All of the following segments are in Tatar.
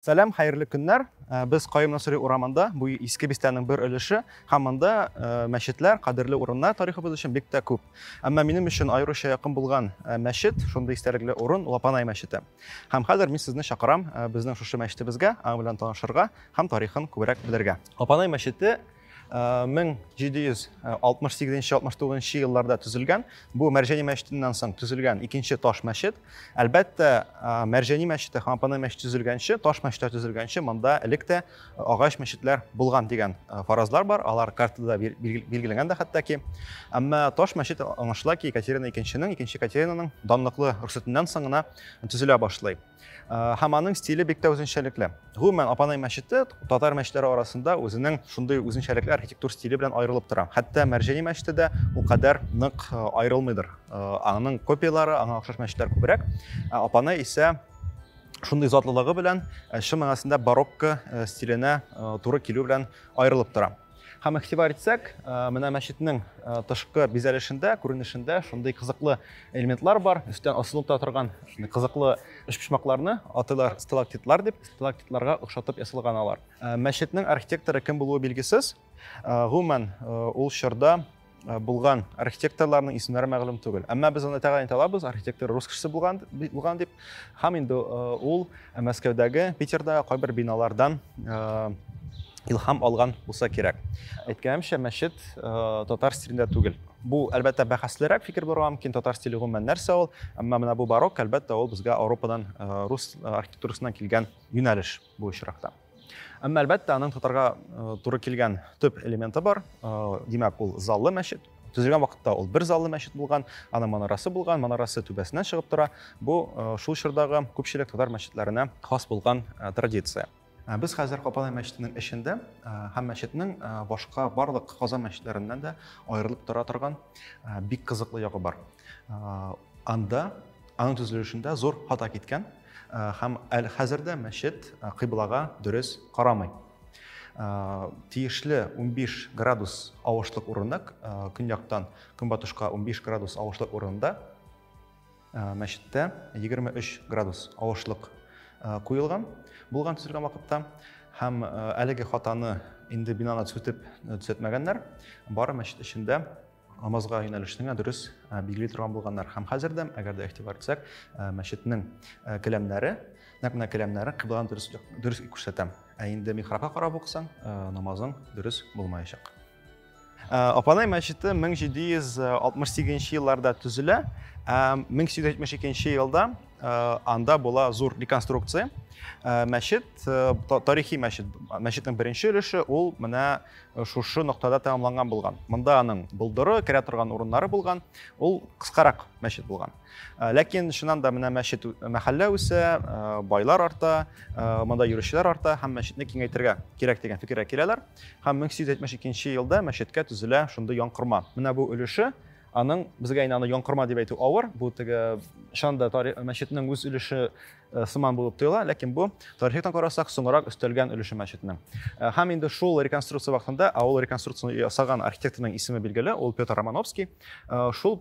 Сәлам, хәерле көннәр. Э, без Каим Насыри урамында, бу иске бистәнең бер өлеше, һәм монда э, мәчетләр, кадерле урыннар тарихыбыз өчен бик тә күп. Әмма минем өчен аеруча якын булган э, мәчет, шундый истәлекле урын Лапанай мәчете. Һәм хәзер мин сезне чакырам безнең шушы мәчетебезгә, аның белән танышырга һәм тарихын күбрәк белергә. Лапанай мәчете 1768-69 э, елларда төзелгән бу мәрҗәни мәчетеннән соң төзелгән икенче таш мәчет әлбәттә э, мәрҗәни мәчете һәм апанай мәчете төзелгәнче таш мәчетләр төзелгәнче монда элек тә э, агач мәчетләр булган дигән фаразлар бар алар картада билгеләнгән дә хәтта әмма таш мәчет аңлашыла ки екатерина икенченең икенче екатеринаның данлыклы рөхсәтеннән соң гына төзелә башлый Э, һәм аның стиле бик тә үзенчәлекле гомумән апанай мәчете татар мәчетләре арасында үзенең шундый үзенчәлекле архитектур стиле белән аерылып тора хәтта мәрҗәни мәчете дә ул кадәр нык э, аерылмыйдыр э, аның копиялары аңа охшаш мәчетләр күбрәк ә апанай исә шундый затлылыгы белән чын мәгънәсендә барокко стиленә туры килү белән аерылып тора Һәм игътибар итсәк, менә мәчетнең тышкы бизәлешендә, күренешендә шундый кызыклы элементлар бар. Өстән асылып та торган шундый кызыклы өчпочмакларны атыйлар сталактитлар дип, сталактитларга охшатып ясалган алар. Мәчетнең архитекторы кем булуы билгесез. Гомумән, ул чорда Э, булган архитекторларның исемнәре мәгълүм түгел әмма без аны тәгаен алабыз архитектор рус кешесе булган булган дип һәм инде э, ул э, мәскәүдәге питердагы кайбер биналардан илһам алган булса кирәк әйткәнемчә мәчет татар стилендә түгел бу әлбәттә бәхәслерәк фикер булырга мөмкин татар стиле гомумән нәрсә ул әмма менә бу барок әлбәттә ул безгә ауропадан рус архитектурасыннан килгән юнәлеш бу очракта Әмма әлбәттә аның тотарга туры килгән төп элементы бар. Димәк, ул заллы мәчет. Төзелгән вакытта ул бер заллы мәчет булган, аның манарасы булган, манарасы түбәсенә чыгып тора. Бу шул чордагы күпчелек татар мәчетләренә хас булган традиция. Без хәзер Капалай мәчетенең эчендә һәм мәчетнең башка барлык Казан мәчетләреннән дә аерылып тора торган бик кызыклы ягы бар. Анда аның төзелешендә зур хата киткән. Һәм әле хәзер дә мәчет кыйблага дөрес карамый. Тиешле 15 градус авышлык урынына, көньяктан көнбатышка 15 градус авышлык урынында мәчеттә 23 градус авышлык куелган булган төзелгән вакытта һәм әлеге хатаны инде бинаны төзетеп төзәтмәгәннәр бары мәчет эчендә намазга юнәлешнең дөрес билгели торган булганнар һәм хәзер дә әгәр дә игътибар итсәк мәчетнең келәмнәре нәкъ менә келәмнәре кыбланы дөрес дөрес күрсәтә ә инде михрабка карап укысаң намазың дөрес булмаячак апанай мәчете 1768 елларда төзелә 1872 елда анда була зур реконструкция мәчет тарихи мәчет мәчетнең беренче өлеше ул менә шушы ноктада тәмамланган булган. Монда аның болдыры, керә торган урыннары булган. Ул кыскарак мәчет булган. Э, ләкин чыннан да менә мәчет э, мәхәллә үсә, э, байлар арта, монда йөрүчеләр арта һәм мәчетне киңәйтергә кирәк дигән фикергә киләләр. Һәм 1872 елда мәчеткә төзелә шундый янкорма. Менә бу өлеше аның безгә инде аны янкорма дип әйтү авыр. Бу теге чанда мәчетнең үз өлеше Э, сыман булып тоела, ләкин бу тарихтан карасак, соңрак өстәлгән өлеше мәчетнең. Э, һәм инде шул реконструкция вакытында, ә ул реконструкцияне ясаган архитекторның исеме билгеле, ул Петр Романовский. Э, шул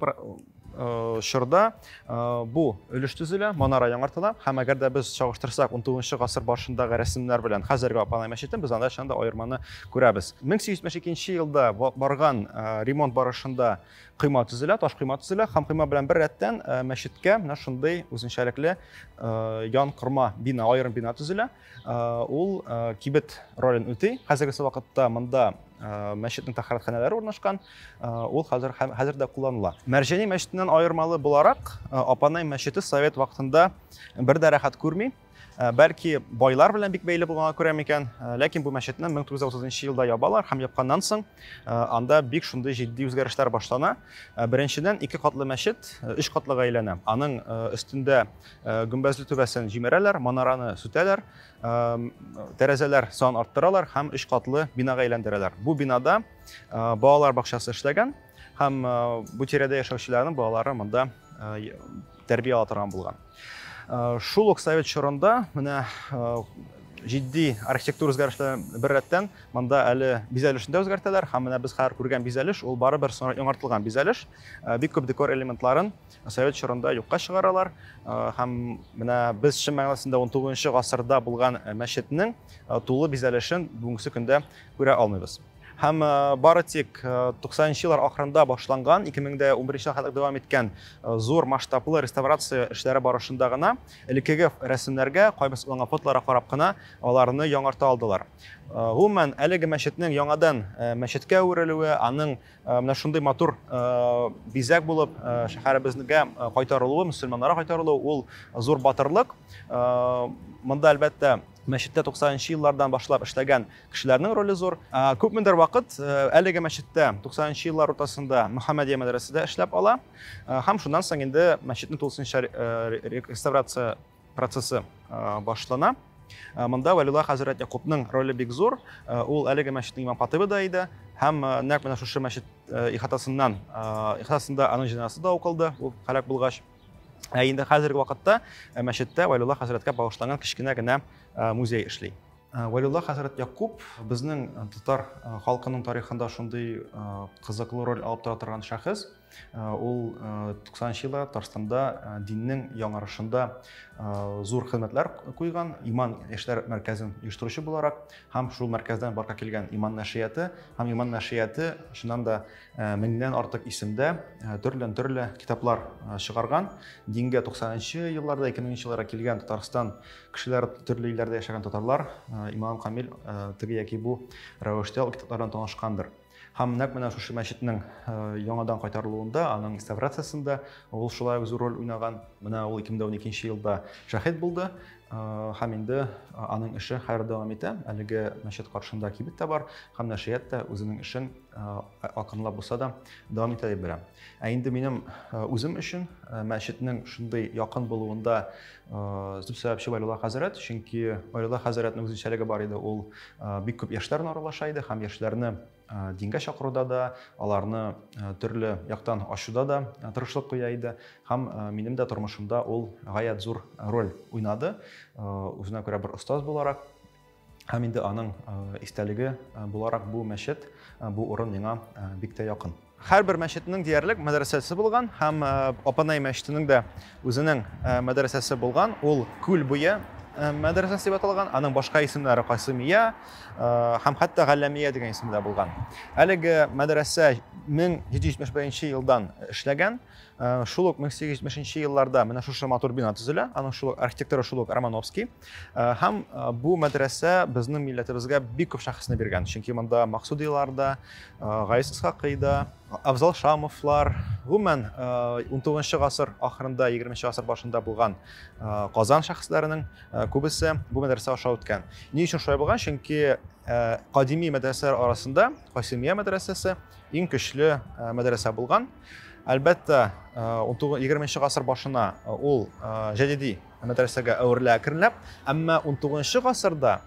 чорда бу өлеш төзелә, манара яңартыла һәм әгәр дә без чагыштырсак 19 гасыр башындагы рәсемнәр белән хәзерге Апанай мәчетен, без анда чында аерманы күрәбез. 1872 елда барган ремонт барышында койма төзелә, таш койма төзелә һәм койма белән бер рәттән э, мәчеткә менә шундый үзенчәлекле э, ян корма бина, аерым бина төзелә. Э, ул кибет ролен үти. Хәзерге вакытта монда мәчетнең тәхәрәтханәләре урнашкан. Ул хәзер хәзер дә кулланыла. Мәрҗәни мәчетеннән аермалы буларак, Апанай мәчете совет вакытында бер дә рәхәт күрми. Э, бәлки байлар белән бик бәйле булганга күрә микән э, ләкин бу мәчетне 1930 елда ябалар һәм япканнан соң э, анда бик шундый җитди үзгәрешләр башлана беренчедән ике катлы мәчет өч катлыга әйләнә аның өстендә гөмбәзле түбәсен җимерәләр манараны сүтәләр тәрәзәләр сан арттыралар һәм өч катлы бинага әйләндерәләр бу бинада балалар бакчасы эшләгән һәм бу тирәдә яшәүчеләрнең балалары монда тәрбия ала торган булган. Шул ук совет чорында менә җитди архитектура үзгәрешләре беррәттән монда әле бизәлешне дә үзгәртәләр һәм менә без хәзер күргән бизәлеш ул барыбер соңрак яңартылган бизәлеш бик күп декор элементларын совет чорында юкка чыгаралар һәм менә без чын мәгънәсендә он тугызынчы гасырда булган мәчетнең тулы бизәлешен бүгенге көндә күрә алмыйбыз Һәм бары тик 90 нчы еллар ахырында башланган, 2011 елга кадәр дәвам иткән зур масштаблы реставрация эшләре барышында гына элеккеге рәсемнәргә, кайбер сакланган фотоларга карап кына аларны яңарта алдылар. Гомумән, әлеге мәчетнең яңадан мәчеткә әверелүе, аның менә шундый матур бизәк булып шәһәребезгә кайтарылуы, мөселманнарга кайтарылуы, ул зур батырлык. Монда, әлбәттә, мәчеттә 90 нчы еллардан башлап эшләгән Кешеләрнең роле зур. Күпмедер вакыт әлеге мәчеттә 90 нчы еллар уртасында Мөхәммәдия мәдрәсәдә эшләп ала һәм шуннан соң инде мәчетне тулысынча реставрация процессы башлана. Э, монда вәлилла хәзрәт якупның роле бик зур э, ул әлеге мәчетнең имам хатыбы да иде һәм э, нәкъ менә шушы мәчет ихатасыннан ихатасында аның җеназасы да укылды ул һәлак булгач ә инде хәзерге вакытта мәчеттә вәлилла хәзрәткә багышланган кечкенә генә музей эшли Э, Валюлла хәзрәт Якуб безнең э, татар э, халкының тарихында шундый кызыклы роль алып тора торган шәхес. Ул 90нчы елларда Татарстанда диннең яңарышында зур хезмәтләр куйган, иман яшьләр мәркәзен оештыручы буларак һәм шул мәркәздән барка килгән иман нәшрияты һәм иман нәшрияты чыннан да меңнән артык исемдә төрледән төрле китаплар чыгарган. Дингә 90нчы елларда, 2000 елларда килгән Татарстан Кешеләр төрле илләрдә яшәгән татарлар, имам Камил теге яки бу рәвештә ул китаплардан танышкандыр. Һәм нәкъ менә шушы мәчетнең яңадан кайтарылуында, аның реставрациясендә ул шулай ук зур роль уйнаган. Менә ул 2012 елда шәһид булды. Һәм инде аның эше хәзер дәвам итә. Әлеге мәчет каршында кибет тә бар, һәм нәшрият та үзенең эшен акрынлап булса да дәвам итә дип беләм. Ә инде минем үзем өчен мәчетнең шундый якын булуында Э, дип сәбәпче Валилла хәзрәт, чөнки Валилла хәзрәтнең үзенчәлеге бар иде, ул э, бик күп яшьләр белән аралаша иде һәм яшьләрне э, дингә чакыруда да, аларны төрле яктан ачуда да тырышлык куя иде һәм минем дә тормышымда ул гаять зур роль уйнады. Үзенә күрә бер остаз буларак Һәм инде аның истәлеге буларак бу мәчет, бу урын миңа бик тә якын. Һәрбер мәчетнең диярлек мәдрәсәсе булган һәм Апанай мәчетенең дә үзенең мәдрәсәсе булган. Ул Күл буе мәдрәсәсе дип аталган. Аның башка исемнәре Касымия һәм хәтта Галләмия дигән исемдә булган. Әлеге мәдрәсә 1771 елдан эшләгән. Шул ук 1870 елларда менә шушы матур бина төзелә. Аның шул архитекторы шул ук Романовский. Һәм бу мәдрәсә безнең милләтебезгә бик күп шәхесне биргән. Чөнки монда Максудилар да, Гайс Исхакый да, Афзал Шамовлар, гомумән 19 гасыр ахырында, 20 гасыр башында булган Казан шәхесләренең күбесе бу мәдрәсә аша үткән. Ни өчен шулай булган? Чөнки кадими мәдрәсәләр арасында Касимия мәдрәсәсе иң көчле мәдрәсә булган. Әлбәттә, 20 гасыр башына ул җәдиди мәдрәсәгә әверелә әкренләп. Әмма 19 гасырда,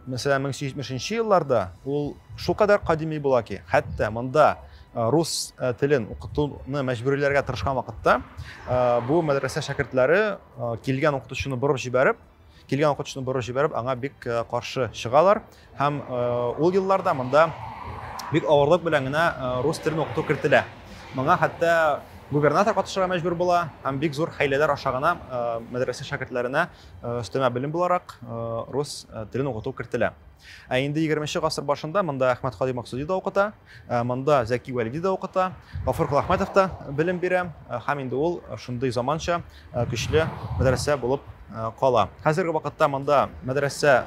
мәсәлән, 1870 елларда ул шулкадәр кадими була ки, хәтта монда рус телен укытуны мәҗбүриләргә тырышкан вакытта бу мәдрәсә шәкертләре килгән укытучыны борып җибәреп, килгән укытучыны борып җибәреп, аңа бик каршы чыгалар. Һәм ул елларда монда бик авырлык белән генә рус телен укыту кертелә. Моңа хәтта губернатор катышырга мәҗбүр була һәм бик зур хәйләләр аша гына э, мәдрәсә шәкертләренә э, өстәмә белем буларак э, рус телен укыту кертелә. Ә инде 20 нче гасыр башында монда Әхмәт Хадимов Максуди да укыта. Ә монда Зәки Вәлиди дә укыта, Гафур Колахмәтов та белем бирә һәм инде ул шундый заманча, көчле мәдрәсә булып кала. Хәзерге вакытта монда мәдрәсә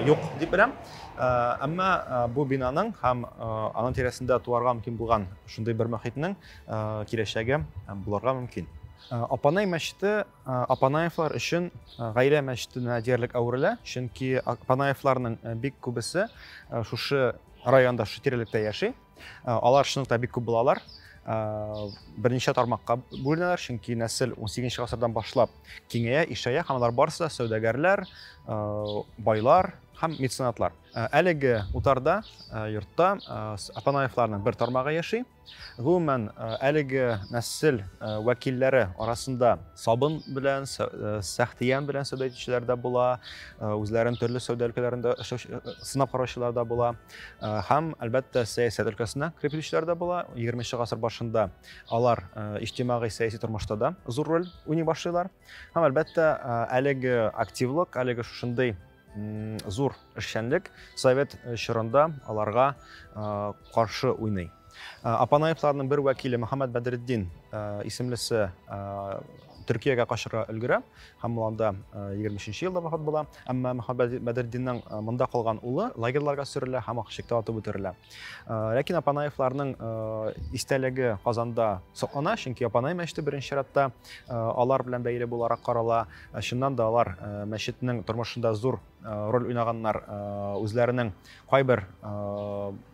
юк дип беләм. Әмма бу бинаның һәм аның тирәсендә туарга мөмкин булган шундый бер мөхитнең киләчәге булырга мөмкин. Апанай мәчете Э, Апанаевлар өчен э, гаилә мәчетенә диярлек әверелә, чөнки Апанаевларның э, бик күбесе шушы районда, шушы тирәлектә яши. Алар шунлыктан бик күп булалар. Берничә тармакка бүленәләр, чөнки нәсел 18 гасырдан башлап киңәя, ишәя һәм алар барысы да сәүдәгәрләр, байлар һәм меценатлар. Әлеге утарда, йортта Апанаевларның бер тармагы яши. Гомумән, әлеге нәсел вәкилләре арасында сабын белән, сәхтиян белән сәүдә итүчеләр дә була, үзләрен төрле сәүдә өлкәләрендә сынап караучылар да була. Һәм, әлбәттә, сәясәт өлкәсенә кереп килүчеләр дә була. 20 нче гасыр башында алар иҗтимагый сәяси тормышта да зур роль уйный башлыйлар. Һәм, әлбәттә, әлеге активлык, әлеге шушындый Зур эшчәнлек совет чорында аларга каршы уйный. Апанаевларның бер вәкиле Мөхәммәд Бәдретдин исемлесе Төркиягә качырга өлгерә һәм ул анда 23 елда вафат була. Әмма Мөхәммәд Бәдретдиннең монда калган улы лагерьларга сөрелә һәм Акчыкта атып үтерелә. Ләкин Апанаевларның истәлеге Казанда саклана, чөнки Апанай мәчете беренче чиратта алар белән бәйле буларак карала. Ә чыннан да алар э, мәчетнең тормышында зур э, роль уйнаганнар, э, үзләренең кайбер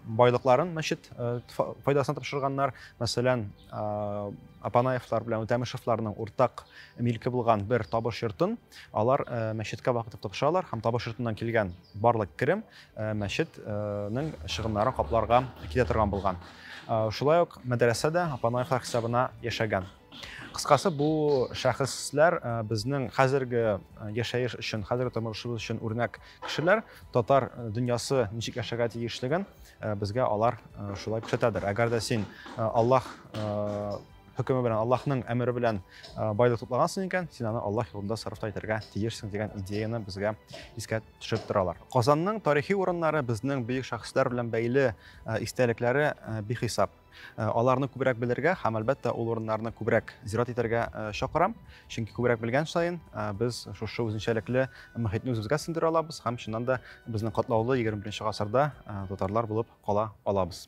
байлыкларын мәчет файдасына тапшырганнар. Мәсәлән, Апанаевлар белән Үтәмешевларның уртак милке булган бер табыш йортын алар мәчеткә вакытып тапшыралар һәм табыш йортыннан килгән барлык керем мәчетнең чыгымнарын капларга китә торган булган. Шулай ук мәдрәсә дә Апанаевлар хисабына яшәгән. Кыскасы, бу шәхесләр э, безнең хәзерге э, яшәеш өчен, хәзерге тормышыбыз өчен үрнәк кешеләр. Татар э, дөньясы ничек яшәргә тиешлеген безгә алар шулай күрсәтәдер. Әгәр дә син Аллаһ хөкеме белән, Аллаһның әмере белән байлык туплагансың икән, син аны Аллаһ юлында сарыфта итәргә тиешсең дигән идеяны безгә искә төшереп торалар. Казанның тарихи урыннары безнең бөек шәхесләр белән бәйле истәлекләре бихисап. Э, аларны күбрәк белергә һәм әлбәттә ул урыннарны күбрәк зират итәргә э, чакырам чөнки күбрәк белгән саен э, без шушы үзенчәлекле мөхитне үзебезгә сеңдерә алабыз һәм чыннан да безнең катлаулы егерме беренче гасырда татарлар булып кала алабыз